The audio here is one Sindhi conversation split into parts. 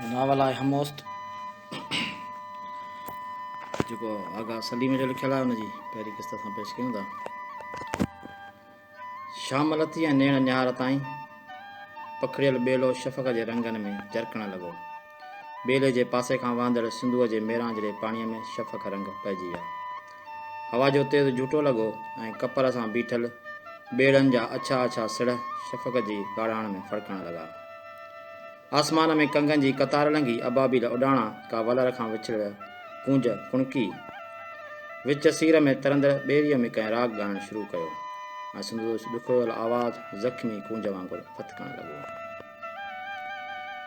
ناول آهي هموست جيڪو آغا سليم جو لکيل آهي ان جي پهرين قسط اسان پيش ڪيون ٿا شام لٿي ۽ نيڻ نهار تائين پکڙيل ٻيلو شفق جي رنگن ۾ جرڪڻ لڳو. ٻيلي جي پاسي کان وهندڙ سنڌوء جي ميرانجهڙي پاڻيء ۾ شفق رنگ پئجي ويا. هوا جو تيز جهوٽو لڳو ۽ ڪپر سان بيٺل ٻيڙن جا اڇا اڇا سڙهه شفق جي ڳاڙهاڻ ۾ ڦڙڪڻ لڳا. آسمان ۾ ڪنگن جي قطار لنگهي ابابيل اڏاڻا ڪا ولر کان وڇڙيل ڪونج ڪڻڪي وچ سير ۾ ترندڙ ٻيريء ۾ ڪنهن راڳ ڳائڻ شروع ڪيو ۽ سندو ڏکويل آواز زخمي ڪونج وانگر ڦٿڪڻ لڳو.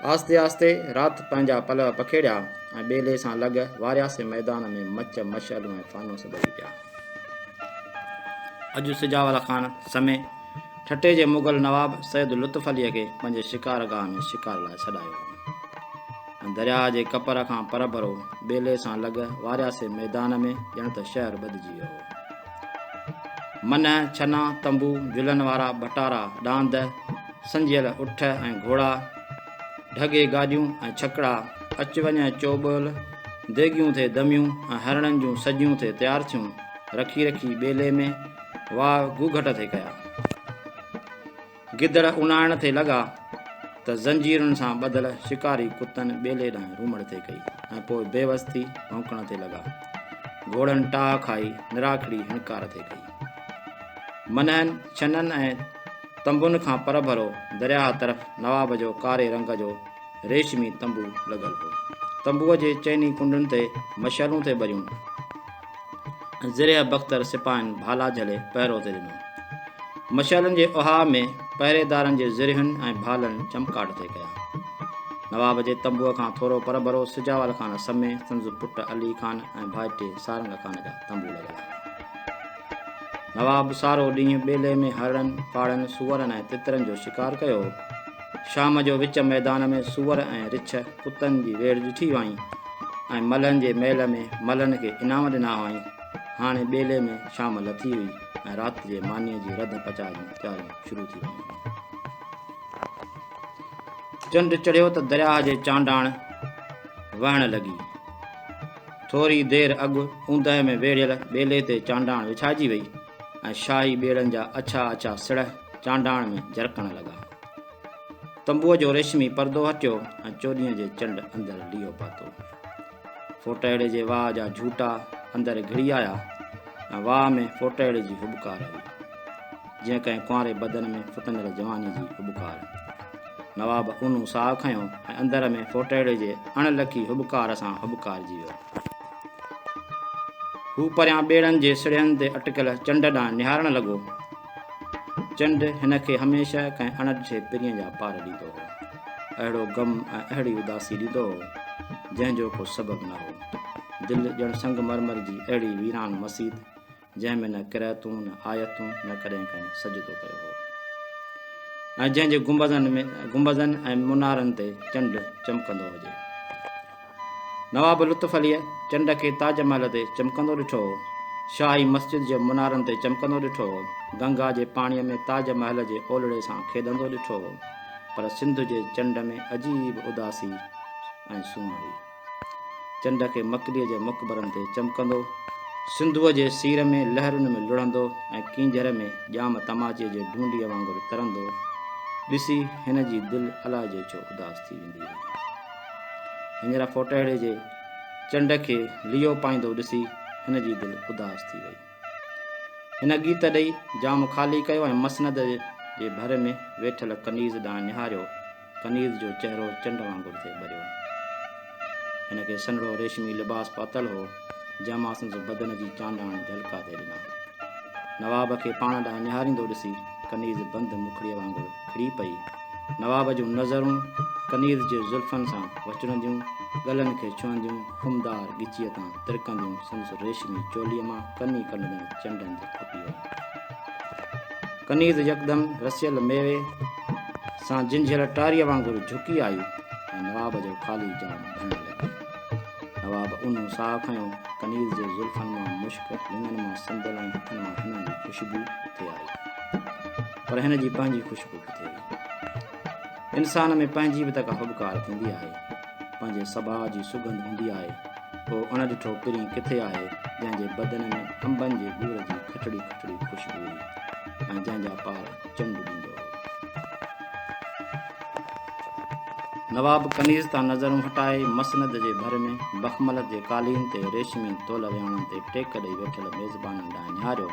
آهستي آهستي رات پنهنجا پلئه پکيڙيا ۽ ٻيلي سان لڳ وارياسي ميدان ۾ مچ مشعلون ۽ فانوس ٻري پيا. اڄ سجاول خان سمي ٺٽي جي مغل نواب سيد لطف عليء کي پنهنجي شڪار گاهه ۾ شڪار لاء سڏايو هو ۽ درياهه جي ڪپر کان پرڀرو ٻيلي سان لڳ وارياسي ميدان ۾ ڄڻ ته شهر ٻڌجي ويو هو منهن ڇنا تنبو جلن وارا ڀٽارا ڏاند سنجيل اٺ ۽ گهوڙا ڍڳي گاڏيون ۽ ڇڪڙا اچ وڃ ۽ چوٻول ديگيون ٿي دميون ۽ هرڻن جون سجيون ٿي تيار ٿيون رکي رکي ٻيلي ۾ واهه گوگهٽ ٿي ڪيا. گدڙ اونائڻ ٿي لڳا ته زنجيرن سان ٻڌل شڪاري ڪتن ٻيلي ڏانهن رومڙ ٿي ڪئي ۽ پوء بيوس ٿي ڀونڪڻ ٿي لڳا. گهوڙن ٽاهه کائي نراکڙي هڻڪار ٿي ڪئي. منهن، ڇنن ۽ تنبن کان پرڀرو درياهه طرف نواب جو ڪاري رنگ جو ريشمي تنبو لڳل هو. تنبوء جي چئني ڪنڊن تي مشعلون ٿي ٻريون. ذريع بختر سپاهين ڀالا جهلي پهرو تي ڏنو. مشعلن جي اهاء ۾ پهريدارن جي ذريعن ۽ ڀالن چمڪاٽ طئي ڪيا. نواب جي تنبوء کان ٿورو پرڀرو سجاول خان سمي سندس پٽ علي خان ۽ ڀائٽي سارنگ خان جا تنبو لڳل هئا. نواب سارو ڏينهن ٻيلي ۾ هرڻن، ڪاڙهن، سوئرن ۽ تترن جو شڪار ڪيو. شام جو وچ ميدان ۾ سوئر ۽ رڇ ڪتن جي ويڙهه ڏٺي هئائين ۽ ملهن جي ميل ۾ ملهن کي انعام ڏنا هئائين. هاڻي ٻيلي ۾ شام لٿي هئي ۽ رات جي مانيء جي رڌ پچاء جون تياريون شروع ٿي ويون هيون. چنڊ چڙهيو ته درياهه جي چانڊاڻ وهڻ لڳي. ٿوري دير اڳ اوندهه ۾ ويڙهيل ٻيلي تي چانڊاڻ وڇائجي وئي. ۽ شاهي ٻيڙن جا اڇا اڇا سڙهه چانڊاڻ ۾ جرڪڻ لڳا. تنبوء جو ريشمي پردو هٽيو ۽ چوڏهينء جي چنڊ اندر ليئو پاتو. ڦوٽهڙي جي واهه جا جهوٽا اندر گهڙي آيا ۽ واهه ۾ ڦوٽهڙي جي هٻڪار هئي، جيئن ڪنهن ڪنواري بدن ۾ ڦٽندڙ جواني جي هٻڪار. نواب اونهون ساهه کنيو ۽ اندر ۾ ڦوٽهڙي جي اڻ لکي هٻڪار سان هٻڪارجي ويو. هو پريان ٻيڙن جي سڙهين تي اٽڪل چنڊ ڏانهن نهارڻ لڳو. چنڊ هن کي هميشه ڪنهن اڻ ڏٺي پرينء جا پار ڏيندو هو. اهڙو غم ۽ اهڙي اداسي ڏيندو هو، جنهن جو ڪو سبب نه هو. دل ڄڻ سنگ مرمر جي اهڙي ويران مسيت جنهن ۾ نه قرعتون نه آيتون نه ڪڏهن ڪنهن سجدو ڪيو هو ۽ جنهن جي گنبذن ۾ گنبذن ۽ منارن تي چنڊ چمڪندو هجي نواب لطف عليء چنڊ کي تاج محل تي چمڪندو ڏٺو هو شاهي مسجد جي منارن تي چمڪندو ڏٺو هو گنگا جي پاڻيء ۾ تاج محل جي اولڙي سان کيڏندو ڏٺو هو پر سنڌ جي چنڊ ۾ عجيب اداسي ۽ سونهن هئي چنڊ کي مڪليء جي مقبرن تي چمڪندو، سنڌوء جي سير ۾ لهرن ۾ لڙهندو ۽ ڪينجهر ۾ ڄام تماچي جي ڍونڍيء وانگر ترندو ڏسي هن جي دل الاء جو ڇو اداس ٿي ويندي هئي. هينئر ڦوٽهڙي جي چنڊ کي ليئو پائيندو ڏسي هن جي دل اداس ٿي وئي. هن ڳيت ڏئي جام خالي ڪيو ۽ مسند جي ڀر ۾ ويٺل ڪنيز ڏانهن نهاريو. کنيز جو چهرو چنڊ وانگر ٿئي ٻريو. هن کي سنهڙو ريشمي لباس پاتل هو، جنهن مان سندس بدن جي چانڊاڻ جهلڪا ٿئي ڏنا. نواب کي پاڻ ڏانهن نهاريندو ڏسي کنيز بند مکڙيء وانگر کڙي پئي. نواب جون نظرون کنيز جي زلفن سان وچڙنديون، ڳلن کي ڇهنديون، خمدار ڳچيء تان ترڪنديون سندس ريشمي چوليء مان ڪني ڪنڊندڙ چنڊن جي کپيء ۾. ڪنيز يڪدم رسيل ميوي سان جنجهيل ٽاريء وانگر جهڪي آئي ۽ نواب جو خالي جام ڀرڻ لڳي. نواب اونهو ساهه کنيو، ڪنيز جي زلفن مان مشڪ، لڱن مان سندل ۽ هٿن مان هنن جي خوشبو اٿي آئي. پر هن جي پنهنجي خوشبو ڪٿي هئي؟ انسان ۾ پنهنجي به ته ڪا هٻڪار ٿيندي آهي. پنهنجي سڀاء جي سگنڌ هوندي آهي، اهو اڻڏٺو پرين ڪٿي آهي، جنهن جي بدن ۾ انبن جي ٻور جي کٽڙي کٽڙي خوشبو هئي ۽ جنهن جا پار چنڊ ڏيندو هو. نواب ڪنيز تان نظرون هٽائي، مسند جي ڀر ۾ بخملت جي قالين تي ريشمي تول وياڻن تي ٽيڪ ڏيئي ويٺل ميزبانن ڏانهن نهاريو.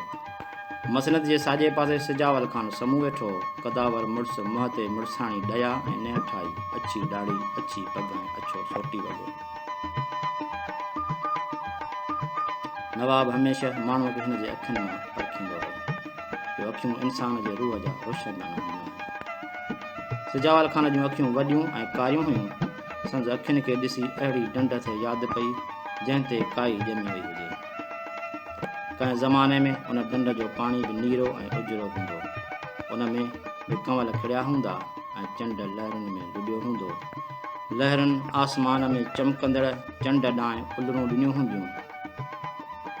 مسند جي ساڄي پاسي سجاول خان سمون ويٺو هو. قداور مڙس، منهن تي مڙساڻي ڊيا ۽ نهٺائي، اڇي ڏاڙهي، اڇي پڳ ۽ اڇو سوٽي وڳو. نواب هميشه ماڻهوء کي هن جي اکين مان پرکيندو هو، جو اکيون انسان جي روح جا روشندانا هونديون آهن. سجاول خان جون اکيون وڏيون ۽ ڪاريون هيون. سندس اکين کي ڏسي اهڙي ڊنڊ اٿي ياد پئي، جنهن تي ڪائي ڄمي وئي هجي. ڪنهن زماني ۾ ان ڍنڍ جو پاڻي به نيرو ۽ اجرو هوندو. ان ۾ به ڪنول کڙيا هوندا ۽ چنڊ لهرن ۾ لڏيو هوندو. لهرن آسمان ۾ چمڪندڙ چنڊ ڏانهن الرون ڏنيون هونديون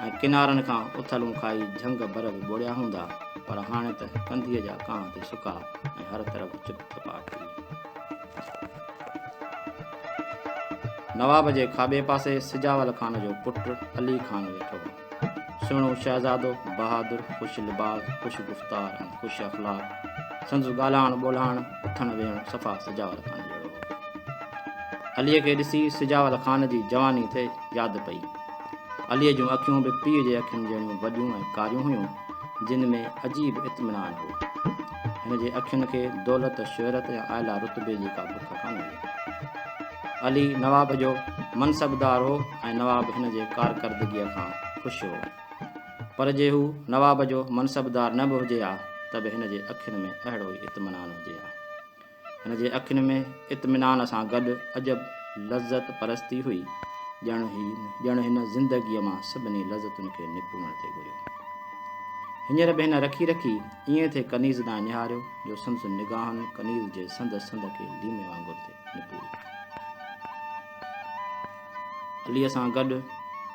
۽ ڪنارن کان اٿلون کائي جهنگ بر به ٻوڙيا هوندا، پر هاڻي ته ڪنڌيء جا ڪانه تي سڪا ۽ هر طرف چپ چپاٽ هئي. نواب جي کاٻي پاسي سجاول خان جو پٽ علي خان ويٺو هو. سهڻو شهزادو، بهادر، خوش لباس، خوش گفتار ۽ خوش اخلاق. سندس ڳالهائڻ ٻولهائڻ، اٿڻ ويهڻ صفا سجاول خان جهڙو هو. عليء کي ڏسي سجاول خان جي جواني تي ياد پئي. عليء جون اکيون به پيء جي اکين جهڙيون وڏيون ۽ ڪاريون هيون، جن ۾ عجيب اطمينان هو. هن جي اکين کي دولت، شهرت يا اعليٰ رتبي جي ڪا بک ڪانه هئي. علي نواب جو منصبدار هو ۽ نواب هن جي ڪارڪردگيء کان خوش هو. پر جي هو نواب جو منصبدار نه به هجي ها ته به هن جي اکين ۾ اهڙو ئي اطمينان هجي ها. هن جي اکين ۾ اطمينان سان گڏ عجب لذت پرستي هئي، ڄڻ ڄڻ هن زندگيء مان سڀني لذتن کي نپوڙڻ تي گهريو هو. هينئر به هن رکي رکي ائين ٿي ڪنيز ڏانهن نهاريو جو سندس نگاهن ڪنيز جي سنڌ سنڌ کي ليمي وانگر ٿي نپوڙيو. عليء سان گڏ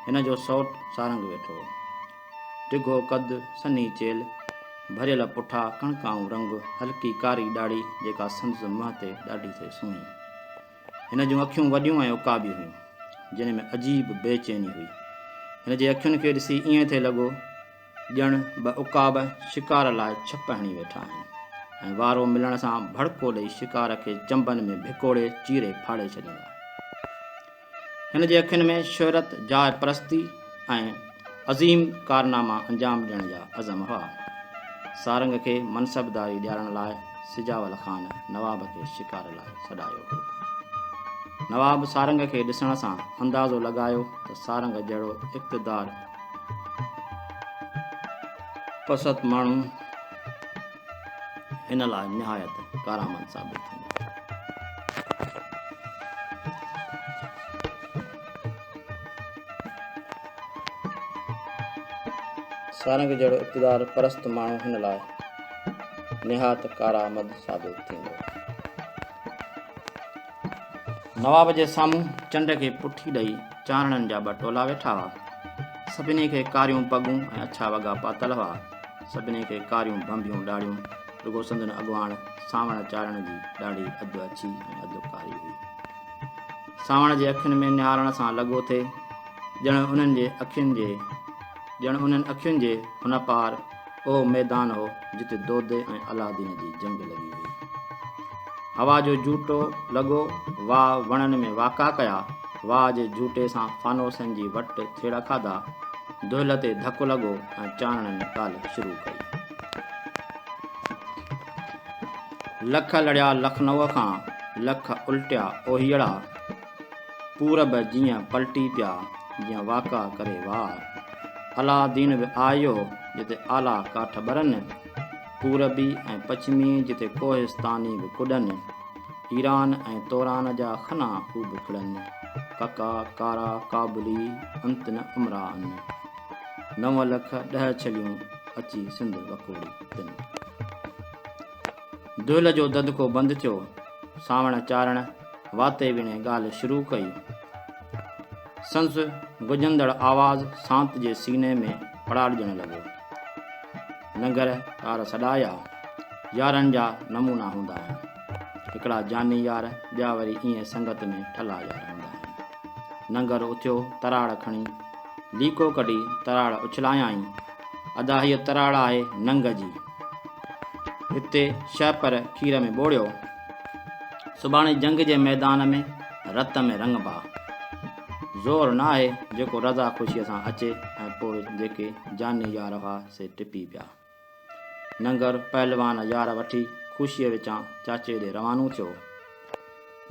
هن جو سئوٽ سارنگ ويٺو هو. ڊگهو قد، سنهي چيلهه، ڀريل پٺا، ڪڻڪائون رنگ، هلڪي ڪاري ڏاڙهي جيڪا سندس منهن تي ڏاڍي ٿي سهڻي. هن جون اکيون وڏيون ۽ عقابي هيون، جنهن ۾ عجيب بي چيني هئي. هن جي اکين کي ڏسي ائين ٿي لڳو ڄڻ ٻه عقاب شڪار لاء ڇپ هڻي ويٺا آهن ۽ وارو ملڻ سان ڀڙڪو ڏئي شڪار کي چنبن ۾ ڀڪوڙي چيري ڦاڙي ڇڏيندا. هن جي اکين ۾ شهرت، جاء پرستي ۽ عظيم ڪارناما انجام ڏيڻ جا عزم هئا. سارنگ کي منصبداري ڏيارڻ لاء سجاول خان نواب کي شڪار لاء سڏايو هو. نواب سارنگ کي ڏسڻ سان اندازو لڳايو ته سارنگ جهڙو اقتدار پسند ماڻهو هن لاء نهايت ڪارآمد ثابت ٿيندو. سارنگ جهڙو اقتدار پرست ماڻهو هن لاء نهايت ڪارآمد ثابت ٿيندو. نواب جي سامهون چنڊ کي پٺي ڏئي چانڙن جا ٻه ٽولا ويٺا هئا. سڀني کي ڪاريون پڳون ۽ اڇا وڳا پاتل هئا. سڀني کي ڪاريون ڀنڀيون ڏاڙهيون، رڳو سندن اڳواڻ سانوڻ چارڻ جي ڏاڙهي اڌ اڇي ۽ اڌ ڪاري هئي. سانوڻ جي اکين ۾ نهارڻ سان لڳو ٿي، ڄڻ انهن جي اکين جي ڄڻ انهن اکين جي هن پار اهو ميدان هو، جتي دودي ۽ الادين جي جنگ لڳي هئي. هوا جو جهوٽو لڳو، واء وڻن ۾ واڪا ڪيا، واء جي جهوٽي سان فانوسن جي وٽ ٿيڙا کاڌا، دهل تي ڌڪ لڳو ۽ چانڻن ڪالهه شروع ڪئي. لک لڙيا لکنوء کان، لک الٽيا اوهيئڙا، پورب جيئن پلٽي پيا، جيئن واڪا ڪري وار. علا دين به آيو، جتي آلا ڪاٺ ٻرن، پوربي ۽ پڇمي جتي ڪوهستاني به ڪڏن. ايران ۽ توران جا خنا خوب کڙن، ڪکا ڪارا ڪابلي انت نه امراء ان. نو لک ڏهه ڇليون اچي سنڌ وڪوڙي تن. دهل جو ددڪو بند ٿيو، سانوڻ چارڻ واتي ويڻي ڳالهه شروع ڪئي. سنس گجندڙ آواز سانت جي سيني ۾ پڙاڏجڻ لڳو. لنگر ڪار سڏا يا يارن جا نمونا هوندا آهن. هڪڙا جاني يار ٻيا وري ايئن سنگت ۾ ٺلا يار هوندا آهن. لنگر اٿيو تراڙ کڻي ليڪو ڪڍي تراڙ اڇلايائين. ادا هيء تراڙ آهي ننگ جي. هتي شهه پر کير ۾ ٻوڙيو. سڀاڻي جنگ جي ميدان ۾ رت ۾ رڱبا. زور ناهي جيڪو رضا خوشيء سان اچي ۽ پوء جيڪي جاني يار هئا سي ٽپي پيا. ننگر پهلوان يار وٺي خوشيء وچان چاچي ڏي روانو ٿيو.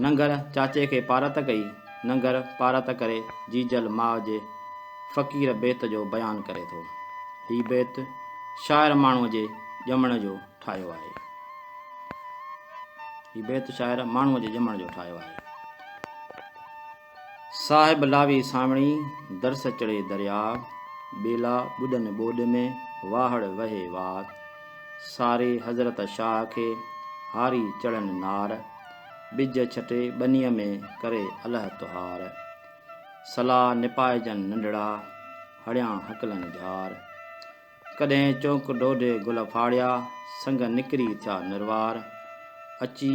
ننگر چاچي کي پارت ڪئي. ننگر پارت ڪري جيجل ماء جي فقير بيت جو بيان ڪري ٿو. هي بيت شاعر ماڻهوء جي ڄمڻ جو ٺاهيو آهي. هي بيت شاعر ماڻهوء جي ڄمڻ جو ٺاهيو آهي. صاحب لاوي سانوڻي، درس چڙهي درياء، ٻيلا ٻڏن ٻوڏ ۾، واهڙ وهي وار، ساري حضرت شاهه کي، هاري چڙهن نار، ٻج ڇٽي ٻنيء ۾، ڪري اله تهار، صلاح نپائجن ننڍڙا، هڙيان هڪلن جهار. ڪڏهن چونڪ ڏوڏي گل ڦاڙيا، سنگ نڪري ٿيا نروار. اچي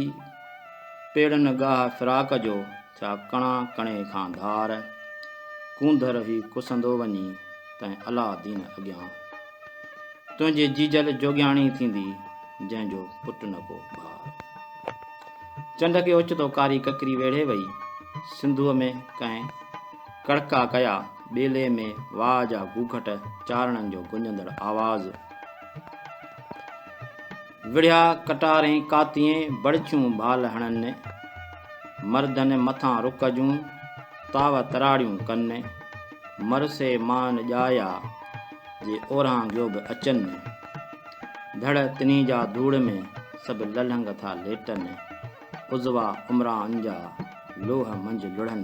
پيڙهن ڳاهه فراق جو، ٿيا ڪڻا ڪڻي کان ڌار. ڪونڌر هي ڪسندو وڃي، تنهن الله دين اڳيان. تنهنجي جيجل جوڳياڻي ٿيندي، جنهن جو پٽ نه ڪو ڀار. چنڊ کي اوچتو ڪاري ڪڪري ويڙهي وئي، سنڌوء ۾ ڪنهن ڪڙڪا ڪيا. ٻيلي ۾ واهه جا گوگهٽ چارڻن جو گونجندڙ آواز. وڙهيا ڪٽارين ڪاتيين بڙڇيون ڀال هڻن. مردن مٿان رڪ جون تاو تراڙيون ڪن. مرسي مان ڄايا جي اورهان گيو به اچن. ڌڙ تني جا ڌوڙ ۾ سڀ للهنگ ٿا ليٽن. عضوا عمران جا لوهه منجهه لڙهن.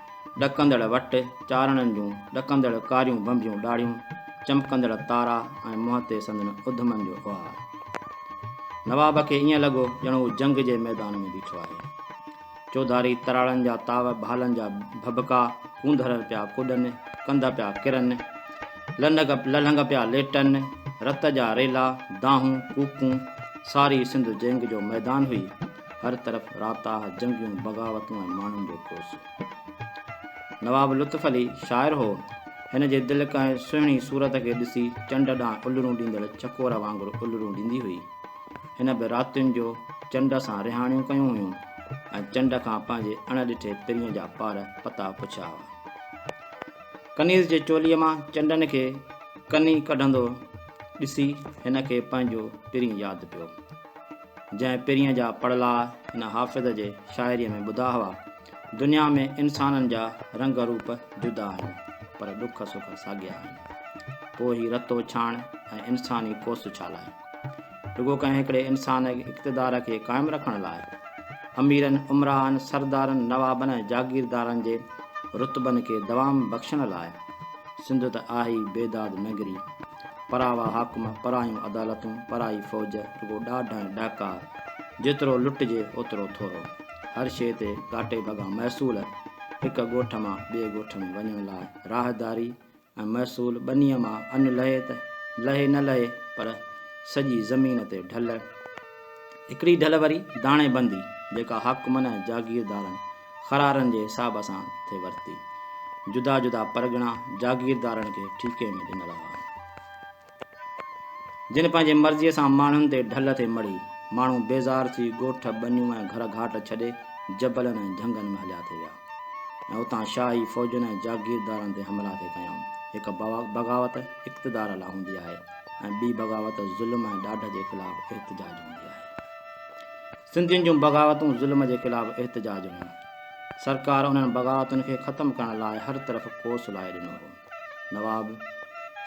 ڏڪندڙ وٽ چارڻن جون ڏڪندڙ ڪاريون ڀنڀيون ڏاڙهيون، چمڪندڙ تارا ۽ منهن تي سندن اڌمن جو اهار. نواب کي ائين لڳو ڄڻ هو جنگ جي ميدان ۾ بيٺو آهي. چوڌاري تراڙن جا تاو، ڀالن جا ڀڀڪا، ڪونڌر پيا ڪڏن، ڪنڌ پيا ڪرن، للهنگ پيا ليٽن، رت جا ريلا، دانهون، ڪوڪون، ساري سنڌ جنگ جو ميدان هئي. هر طرف راتاهه، جنگيون، بغاوتون ۽ ماڻهن جو ڪوسو. نواب لطف علي شاعر هو. هن جي دل ڪنهن سهڻي صورت کي ڏسي چنڊ ڏانهن الرون ڏيندڙ چڪور وانگر الرون ڏيندي هئي. هن به راتين جو چنڊ سان رهاڻيون ڪيون هيون ۽ چنڊ کان پنهنجي اڻ ڏٺي پرينء جا پار پتا پڇيا هئا. ڪنيز جي چوليء مان چنڊن کي ڪني ڪڍندو ڏسي هن کي پنهنجو پرين ياد پيو. جنهن پرينء جا پڙلاء هن حافظ جي شاعريء ۾ ٻڌا هئا، دنيا ۾ انسانن جا رنگ روپ جدا آهن، پر ڏک سک ساڳيا آهن. پوء هي رت اڇاڻ ۽ انساني ڪوس ڇا لاء؟ رڳو ڪنهن هڪڙي انسان جي اقتدار کي قائم رکڻ لاء؟ اميرن، امراءن، سردارن، نوابن ۽ جاگيردارن جي رتبن کي دوام بخشڻ لاء؟ سنڌ ته آهي ئي بيداد نگري. پراوا حاڪم، پرايون عدالتون، پرائي فوج، رڳو ڏاڍ ۽ ڏاڪا، جيترو لٽجي اوترو ٿورو. هر شيء تي گهاٽي ڀڳا محصول، هڪ ڳوٺ مان ٻئي ڳوٺ ۾ وڃڻ لاء راهداري ۽ محصول ٻنيء مان ان لهي ته لهي نه لهي پر سڄي زمين تي ڍل. هڪڙي ڍل وري داڻي بندي، جيڪا حاڪمن ۽ جاگيردارن قرارن جي حساب سان ٿي ورتي. جدا جدا پرڳڻا جاگيردارن کي ٺيڪي ۾ ڏنل هئا. جن پنهنجي مرضيء سان ماڻهن تي ڍل ٿي مڙهي. ماڻهو بيزار ٿي ڳوٺ، ٻنيون ۽ گهر گهاٽ ڇڏي جبلن ۽ جهنگن ۾ هليا ٿي ويا ۽ اتان شاهي فوجن ۽ جاگيردارن تي حملا ٿي ڪيائون. هڪ بغاوت اقتدار لاء هوندي آهي ۽ ٻي بغاوت ظلم ۽ ڏاڍ جي خلاف احتجاج هوندي آهي. سنڌين جون بغاوتون ظلم جي خلاف احتجاج هيون. سرڪار انهن بغاوتن کي ختم ڪرڻ لاء هر طرف ڪوس لائي ڏنو هو. نواب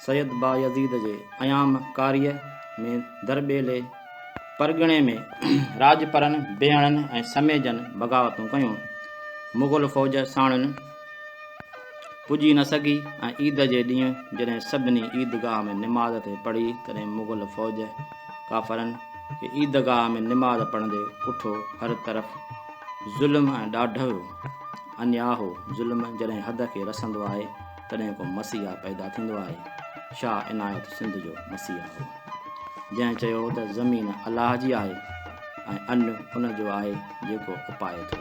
سيد بايزيد جي ايام ڪاريء ۾ درٻيلي پرڳڻي ۾ راڄپرن، بيهڻن ۽ سميجن بغاوتون ڪيون. مغل فوج ساڻن. پڄي نه سگهي ۽ عيد جي ڏينهن جڏهن سڀني عيدگاهه ۾ نماز پئي پڙهي تڏهن مغل فوج ڪافرن کي عيدگاهه ۾ نماز پڙهندي ڪٺو هر طرف ظلم ۽ ڏاڍ هيو انيا هو ظلم جڏهن حد کي رسندو آهي تڏهن ڪو مسيحا پيدا ٿيندو آهي شاهه عنايت سنڌ جو مسيحا هو جنهن چيو هو ته زمين الله جي آهي ۽ ان ان جو آهي جيڪو اپائي ٿو